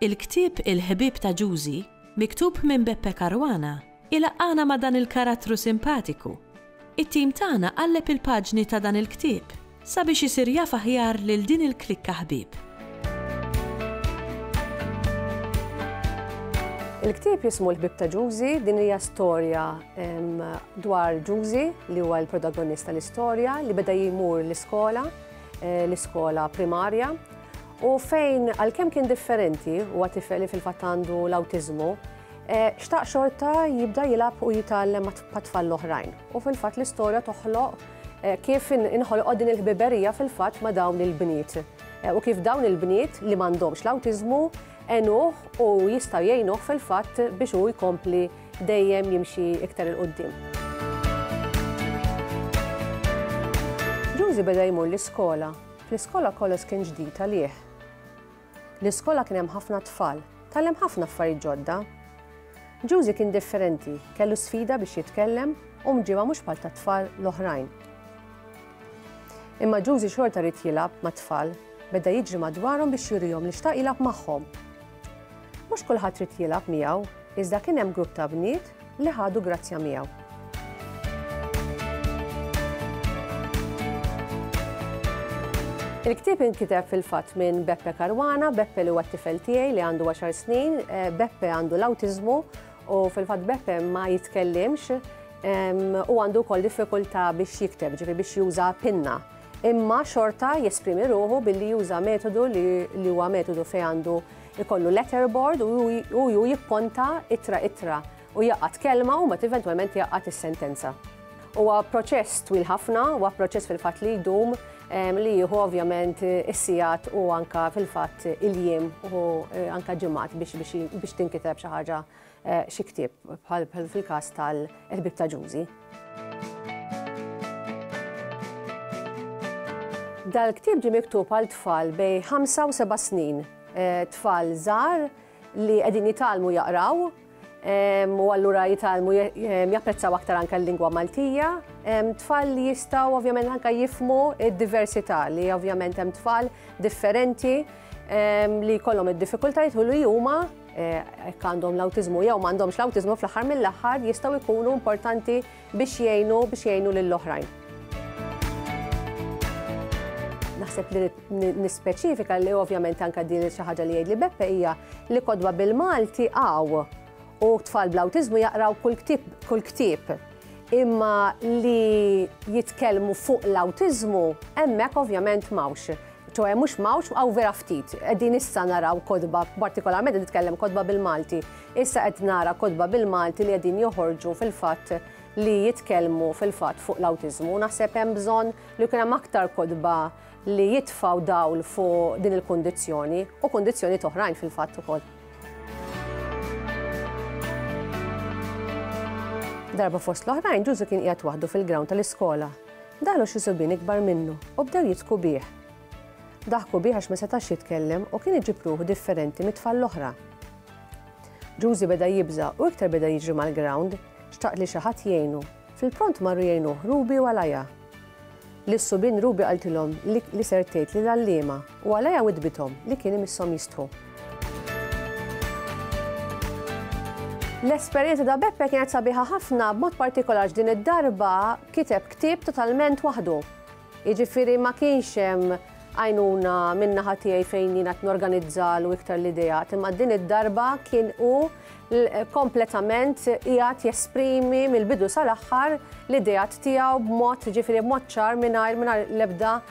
Il-ktieb Il-Ħbieb ta' Ġużi, miktub minn Beppe Caruana, ilaqqagħna ma' dan il-karattru simpatiku. It-tim tagħna qalleb il-paġni ta' dan il-ktieb sabiex isir jaf aħjar lil din il-klikka ħbieb. Il-ktieb jismu L-Ħbieb ta' Ġużi, din hija storja dwar Ġużi li huwa l-protagonist tal-istorja li beda jmur l-iskola, l-iskola primarja, U fejn għalkemm kien differenti huwa tifel li fil-fatt għandu l-awtiżmu, eh, xtaq xorta jibda jilgħab u jitgħallem mat-tfal l-oħrajn. U fil-fatt l-istorja toħloq eh, kif inħolqod din il-ħbiberija fil-fatt ma' dawn il-bniet. Eh, u kif dawn il-bniet li m'għandhomx l-awtiżmu enuh u jistgħu jgħinuh fil-fatt biex hu jkompli dejjem jimxi iktar il-qoddim. Ġużi beda jmur l-iskola Fl-iskola kollox kien ġdid għalih. L-iskola kien hemm ħafna tfal, tgħallem ħafna affarijiet ġodda. Ġużi kien differenti, kellu sfida biex jitkellem u mġiba mhux bħal tat-tfal l-oħrajn. Imma Ġużi xorta rid jilgħab mat-tfal, beda jiġri madwarhom biex jurihom li xtaq jilgħab magħhom. Mhux kulħadd ried jilgħab miegħu, iżda kien hemm grupp ta' bniet li ħadu grazzja miegħu. Il-ktieb inkiteb fil-fatt minn Beppe Caruana, Beppe li huwa t-tifel tiegħi li għandu 10 snin, eh, Beppe għandu l-awtiżmu u fil-fatt Beppe ma jitkellimx u għandu wkoll diffikultà biex jikteb, ġifi biex juża pinna. imma xorta jesprimi ruħu billi juża metodu li huwa metodu fejn għandu ikollu letterboard u ju jipponta itra itra u jaqat kelma u mat eventualment jaqat is-sentenza. Huwa proċess twil ħafna, huwa proċess fil-fatt li jdum li jieħu ovvjament is-sigħat u anka fil-fatt il-jiem u anka ġimgħat biex tinkiteb xi ħaġa xi ktieb bħal fil-każ tal-Ħbieb ta' Ġużi. Dal-ktieb ġie miktub għal tfal bejn ħamsa u seba' snin, tfal żgħar li qegħdin jitgħallmu jaqraw u allura jitgħallmu japprezzaw aktar anke l-lingwa Maltija. Tfal li jistgħu ovvjament anke jifhmu d-diversità li ovvjament hemm tfal differenti li jkollhom id-diffikultajiet u li huma hekk għandhom l-awtiżmu jew m'għandhomx l-awtiżmu fl-aħħar mill-aħħar jistgħu jkunu importanti biex jgħinu biex jgħinu lill-oħrajn. Naħseb li nispeċifika li ovvjament anke din xi ħaġa li jgħidli Beppe hija li kodba bil-Malti għaw u tfal bl-awtiżmu jaqraw kull ktieb imma li jitkellmu fuq l-awtiżmu hemmhekk ovvjament m'hawnx. ċoħe mhux mawx hawn vera ftit. Qegħdin issa naraw kodba, partikolarment qed nitkellem kodba bil-Malti. Issa qed nara kodba bil-Malti li qegħdin joħorġu fil-fatt li jitkellmu fil-fatt fuq l-awtiżmu. Naħseb hemm bżonn li jkun hemm aktar kodba li jitfaw dawl fuq din il-kundizzjoni u kundizzjoni toħrajn fil-fatt ukoll. Darba fost l-oħrajn ġużu kien qiegħed waħdu fil-ground tal-iskola Daħlu xi subien ikbar minnu u bdew jidhku bih. Daħku bih għax ma setax jitkellem u kien iġib ruħu differenti mit-tfal l-oħra. Ġużi beda jibża' u iktar beda jiġri mal-grawnd, xtaq li xi ħadd jgħinu. Fil-pront marru jgħinuh Ruby u Alaja. Lis-subien Ruby qaltilhom li ser tgħid lill-għalliema u Alaja witbithom li kien imisshom jistħu. L-esperjenza ta' Beppe kienet sabiħa ħafna b'mod partikolarx din id-darba kiteb ktieb totalment waħdu. Jiġifieri ma kienx hemm għajnuna minna ħatijaj fejn jina t-norganizzal u iktar l-ideja, imma din id-darba kien u kompletament jgħat jesprimi mill-bidu sal-axħar l-idejat tijaw b'mod ġifiri b'mod ċar minnajr minnajr lebda